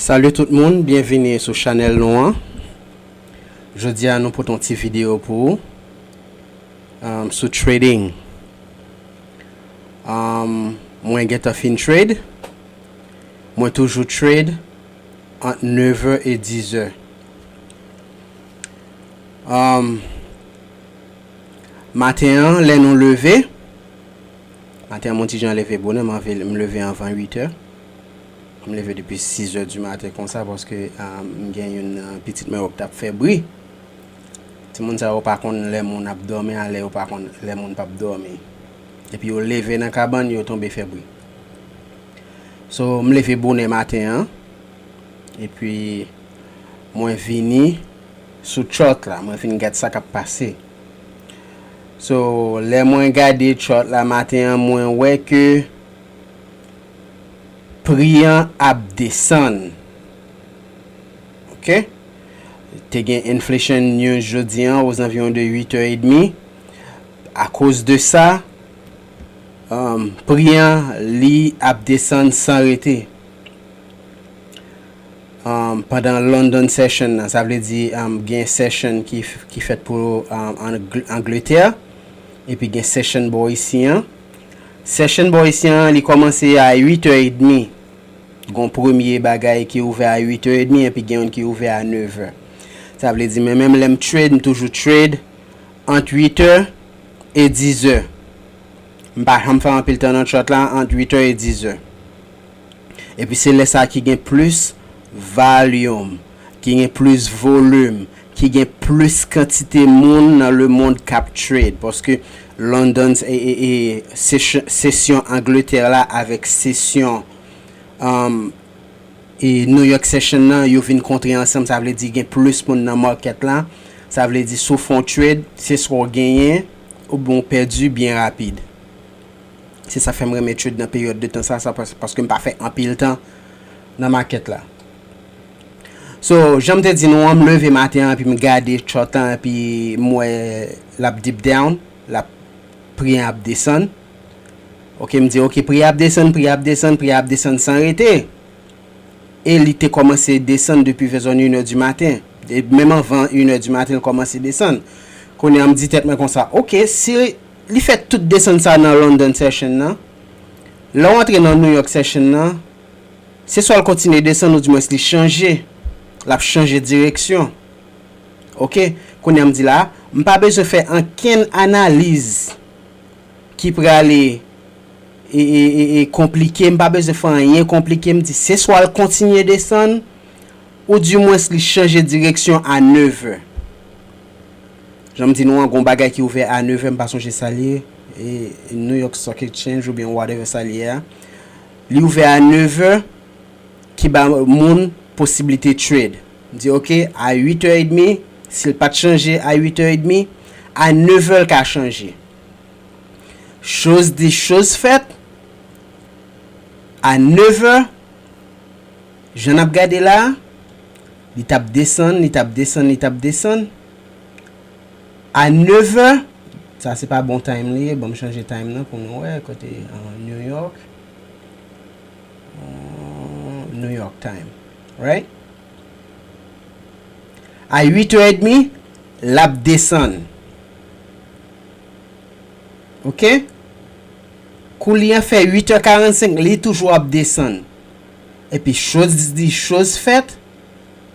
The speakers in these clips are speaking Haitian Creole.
Salut tout moun byenvini sou chanèl nou an jodi a nou pote yon ti video pou ou sou trading mwen gentan fin trade mwen toujou trade ant 9 è e 10 è maten an lè nou leve Maten an m on ti jan leve bonè, m anvi m leve anvan 8 è. M leve depi 6 è di maten konsa paske m gen youn nan pitit mwen yo k t ap fè bri. Timoun sa yo pa konn lè moun ap dòmi a lè yo pa konn lè moun p ap dòmi. Epi yo leve nan kabann yo tonbe fè bri. So m leve bonè maten an epi mwen vini sou tchòlk la mwen vin gad sa k ap pase. So lè mwen gade chart la maten an mwen wè ke pri an ap desann ok te gen inflation news jodi an aux environs de 8 heures et demi a koz de sa pri an li ap desann san rete. pandan London Session nan, sa vle di gen Session ki fèt pou Angletè, epi gen Session bò isi an. Session bò isi an, li kòmanse a 8 è edmi, gon premye bagay ki ouvè a 8 è edmi, epi gen youn ki ouvè a 9 è. Sa vle di mwen menm lè m trade, m toujou trade ant 8 è e 10 è. M pa janm fè anpil tan nan chart la ant 8 è e 10 è. Epi se lè sa ki gen plis valyum, ki gen plis volum, ki gen plis kantite moun nan le mond k ap trade. Paske London session Angleterre la avèk session New York session nan yo vin kontre ansanm sa vle di gen plis moun nan market la. Sa vle di si w fè yon trade se swa w genyen oubyen w pèdi byen rapid. Se sa k fè m renmen trade nan peryòd de tan sa a, paske m pa fè anpil tan nan makèt la. So, jan m te di nou an, m leve maten an epi m gade chart an epi m wè l ap dip down, l ap, pri an ap desann. Ok, m di ok, pri a ap desann, pri a ap desann, pri a ap desann san rete. E li te kòmanse desann depi vè zòn inè di maten. Menm anvan inè di maten l kòmanse desann. Kounye a m di tèt mwen konsa, ok, si. Li fè tout desann sa nan London Session nan. Lè w antre nan New York Session nan, se swa l kontinye desann ou dimwens li chanje, l ap chanje direksyon. Ok, kounye a m di la a, m pa bezwen fè ankenn analiz ki prale e konplike, m pa bezwen fè anyen konplike, m di se swa l kontinye desann ou dimwens li chanje direksyon a nevè. Janm di nou an gon bagay ki ouvè a 9 è m pa sonje sal ye New York Stock Exchange oubyen whatever sal ye a li ouvè a 9 è ki ba moun posibilite trade m di ok a 8 è edmi sil pat chanje a 8 è edmi a 9 è l ka chanje choz di choz fèt a 9 è Jan nap gade la, li tap desann, li tap desann, li tap desann. A 9 vè, sa se pa bon time li ye, banm chanje time nan pou nou wè kote New York, New York time, right? A 8 è edmi, lap desann. Ok? Kou li an fè 8 è 45, li toujou ap desann. epi choz di choz fèt,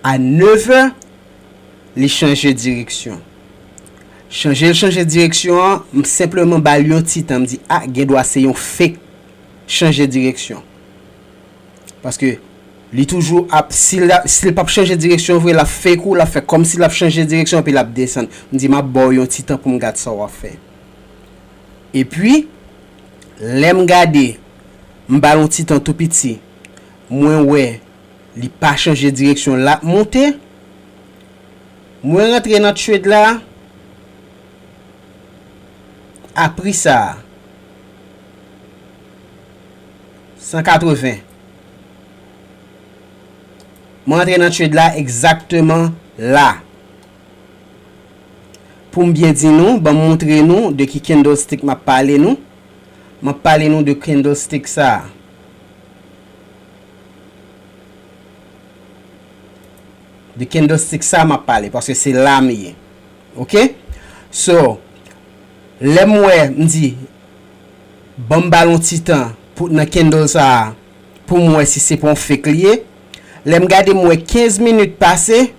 a nevè, li chanje direksyon. Chanje l chanje direksyon an, m senpleman ba l yon ti tan, m di, a, gen dwa se yon fake chanje direksyon. Paske, li toujou ap, si l, si l p ap chanje direksyon vre, l ap fake ou, l ap fè kòmsi l ap chanje direksyon epi l ap desann. M di, m ap ba w yon ti tan pou m gad sa w ap fè. Epi, lè m gade, m ba l yon ti tan tou piti, mwen wè li pa chanje direksyon l ap monte. Mwen rantre nan trade la a pri sa a, 180. Mwen rantre nan trade la egzakteman la. Poum byen di nou, banm moutre nou de ki candlestick map pale nou. Map pale nou de candlestick sa. De candlestick sa map pale paske se lam ye. Ok? So, lèm wè mdi banm bal yon ti tan pou nan candle sa poum wè si se pa yon fake li ye. Lèm gade m wè 15 minutes pase.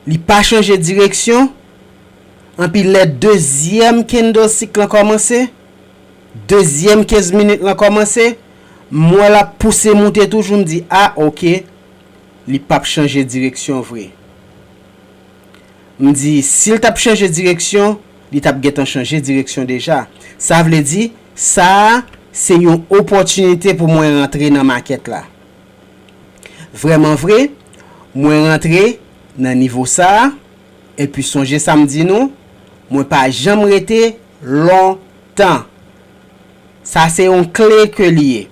Li pa chanje direksyon, anpi lè dezyèm kendlsik lan kòmanse, dezyèm 15 minit lan kòmanse, m wè l ap pouse moute toujou, m di a ok, li p ap chanje direksyon vre. M di si l t ap chanje direksyon, li t ap gentan chanje direksyon deja. Sa vle di, sa a se yon opòtinite pou mwen rantre nan makèt la. Vrèman vre, mwen rantre nan nivo sa a, epi sonje sa m di nou, mwen pa janm rete lontan. Sa se yon kle ke li ye.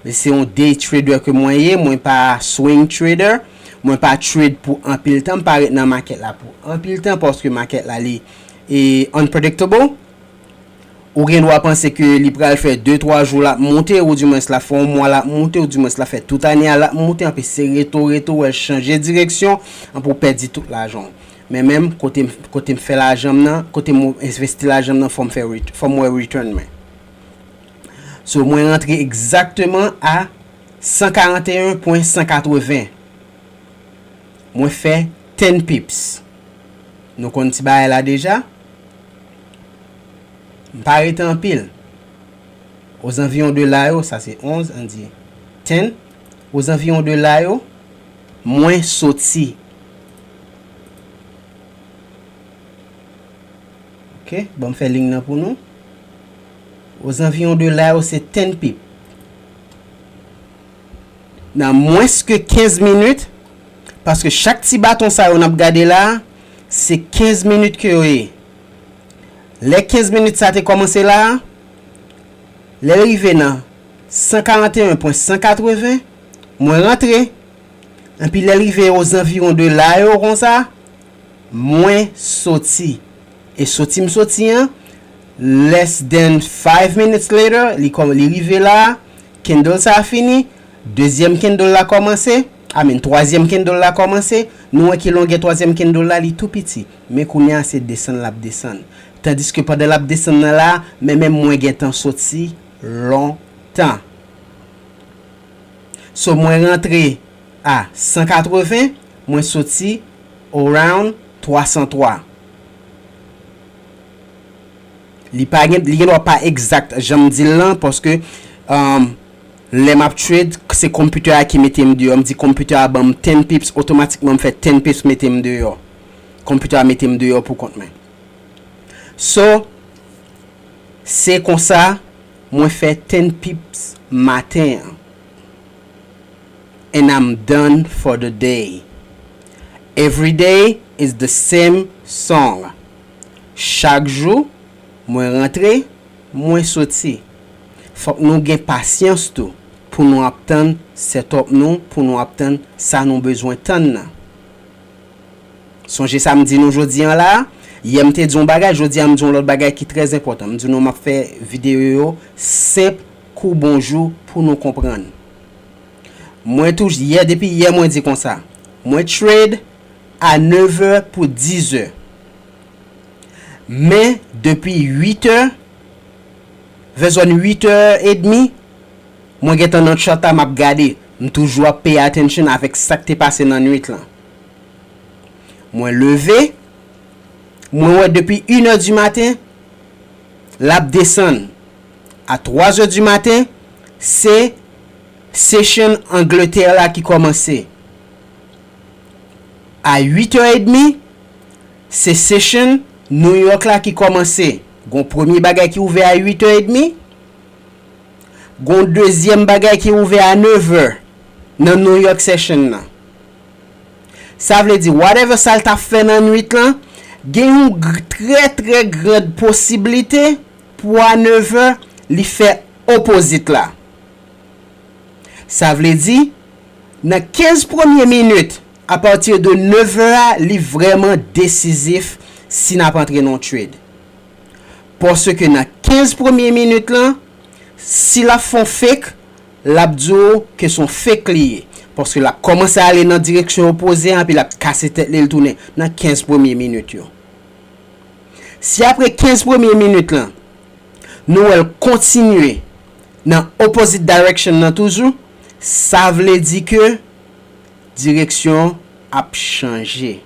Li se yon day trader ke mwen ye, mwen pa swing trader. Mwen pa trade pou anpil tan, m pa ret nan market la pou anpil tan paske market la li unpredictable. Ou gen dwa panse ke li pral fè de twa jou lap moute ou di mwens lap fè yon mwa lap moute ou di mwens lap fè tout ane a lap moute anpi se reto reto ou wèl chanje direksyon anpi ou pèdi tout lajan w men menm kotem kotem fè lajan m nan kotem envesti lajan m nan fòm fè fòm wè return mwen so mwen rantre egzakteman a 141 pwen 180 mwen fè 10 pips nou konn ti bagay la deja. M pa rete anpil. Ozanviwon de la yo, sa se 11, ann di, ten, ozanviwon de la yo, mwen soti. Ok, ban m fè ling nan pou nou. Ozanviwon de la yo, se ten pip. Nan mwens ke 15 minit, paske chak ti baton sa yo n ap gade la a, se 15 minit ke yo ye. Lè 15 minit sa te kòmanse la a, lè l rive nan 141 pwen 180, mwen rantre, enpi lè l rive ozanviwon de la yo konsa, mwen soti. E soti m soti an, less than 5 minutes later, li rive la a, candle sa a fini, dezyèm candle la kòmanse, Amen twazyèm kendle la kòmanse nou wè ki longè twazyèm kendle la li tou piti men kounya se desann lap desann tandiske pandan lap desann nan la men men mwen gentan soti lontan so mwen rantre a 180 mwen soti around 303 li pa gen li gendwa pa exact janm dil lan paske Lè map trade se computer a ki metem deyò m di computer a banm 10 pips otomatikman m fè 10 pips metem deyò computer a metem deyò pou kont mwen so se konsa mwen fè 10 pips maten an and I'm done for the day everyday is the same song chak jou mwen rantre mwen soti. Fòk nou gen pasyans tou pou nou ap tann setòp nou, pou nou ap tann sa nou bezwen tann nan. Sonje sa m di nou jodi an la a, yè m te di yon bagay, jodi a m di yon lòt bagay ki trè zenpòtan. M di nou m ap fè videyo yo senp kou bonjou pou nou konprann. Mwen tou, yè depi yè mwen di konsa, mwen trade a nevè pou dizè. Men depi uitè Vè zòn 8 tè edmi, mwen gentan nan chat a m ap gade. M toujou ap pay attention avèk sa k te pase nan nuit lan. Mwen leve, mwen wè depi inè di maten, l ap desann. A twazè di maten, se session Angletè la ki kòmanse. A uitè edmi, se session New York la ki kòmanse. Gon premye bagay ki ouvè a 8 è edmi, gon dezyèm bagay ki ouvè a 9 è nan New York Session nan. Sa vle di whatever sa l t ap fè nan nwit lan, gen yon trè trè grand posiblite pou a 9 è li fè opposite la. Sa vle di nan 15 premye minit A partir de 9 heures a li vreman desizif si nap antre nan trade. Paske nan 15 premye minit lan, si lap fè yon fake, lap di w ke se yon fake li ye. Paske lap komanse ale nan direksyon opoze an epi lap kase tèt li, li tounen nan 15 premye minit yo. Si apre 15 premye minit lan, nou wè l kontinye nan opposite direction lan toujou, sa vle di ke, Direksyon ap chanje.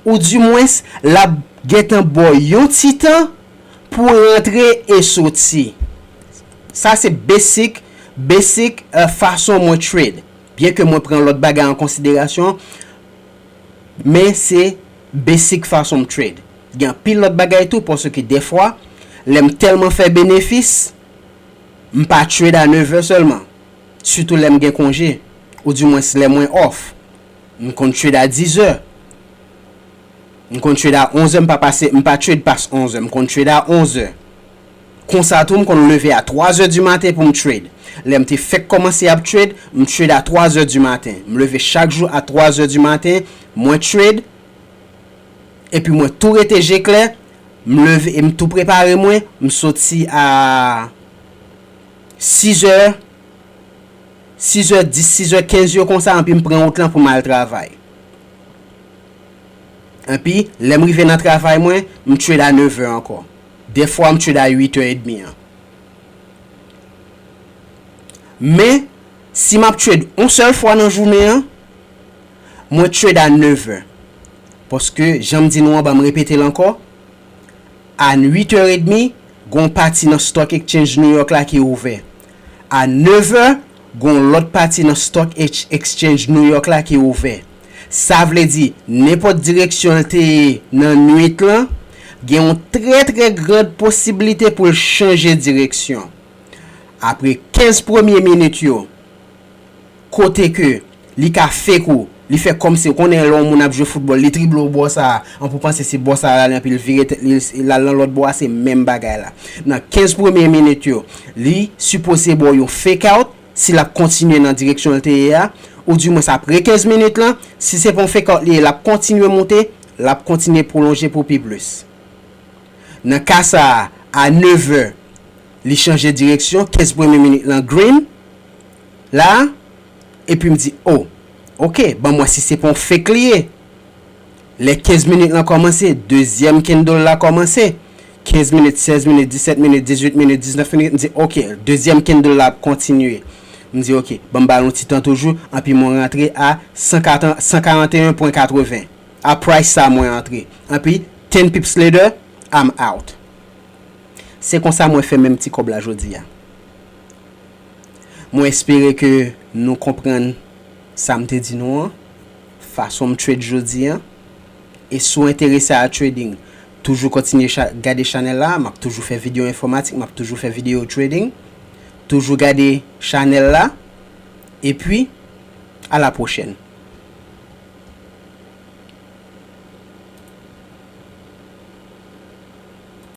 Ou di mwens lap gentan bo yon ti tan pou rantre e soti. Sa se basic, basic fason mwen trade. Byen ke mwen pran lot bagay an konsiderasyon, men se basic fason m trade. Gen anpil lot bagay tou paske defwa lem telman fe benefis, M pa trade a nevè sèlman, sitou lè m gen konje, ou di mwens lè mwen off. M konn trade a dizè, m konn trade a onzè m pa pase, m pa trade pas onzè, m konn trade a onzè. Konsa tou m konn leve a twa zè di maten pou m trade. Lè m te fèk kòmanse ap trade, m trade a twa zè di maten. M leve chak jou a twa zè di maten, mwen trade, epi mwen tou rete je klè, M leve, m tou prepare mwen, m soti a 6 zè, 6 zè 10, 6 zè 15 yo konsa anpi m pran wout lan pou m al travay. Anpi, lè m rive nan travay mwen, m trade a 9 è ankò. Dèfwa m trade a 8 è edmi an. Men, si m ap trade yon sèl fwa nan jounen an, mwen trade a 9 è. Paske, jan m di nou anba m repete l ankò, a uit è edmi, gen yon pati nan Stock Exchange New York la ki ouvè. A nev è, gen yon lòt pati nan Stock Exchange New York la ki ouvè. Sa vle di, nenpòt direksyon l te ye nan nuit lan, gen yon trè trè grand posiblite pou l chanje direksyon. Apre 15 premye minit yo. Kote ke li ka fake ou, li fè kòmsi, ou konnen lè yon moun ap jwe foutbòl, li drible ou bò sa a, anpi ou panse se bò sa a l ale, anpi l vire tèt li, l al nan lòt bò a, se menm bagay la. Nan 15 premye minit yo, li sipoze ba w yon fake out, si l ap kontinye nan direksyon l te ye a, ou di mwens apre 15 minit lan, si se pa yon fake out li ye, l ap kontinye moute, l ap kontinye pwolonje pou pi plis. Nan ka sa a, a nevè, li chanje direksyon, 15 premye minit lan green, la epi m di oh ok banm wè si se pa yon fake li ye lè 15 minit lan kòmanse dezyèm candle la kòmanse 15 minit 16 minit 17 minit 18 minit 19 minit m di ok dezyèm candle la ap kontinye m di ok banm bal yon ti tan toujou anpi mwen rantre a 141.80 a price sa mwen antre anpi 10 pips later I'm out se konsa mwen fè menm ti kòb la jodi a. Mwen espere ke nou konprann sa m te di nou an, fason m trade jodi an. E si w enterese a trading, toujou kontinye gade chanèl la, m ap toujou fè videyo enfòmatik, m ap toujou fè videyo trading. Toujou gade chanèl la, epi a la pwochèn.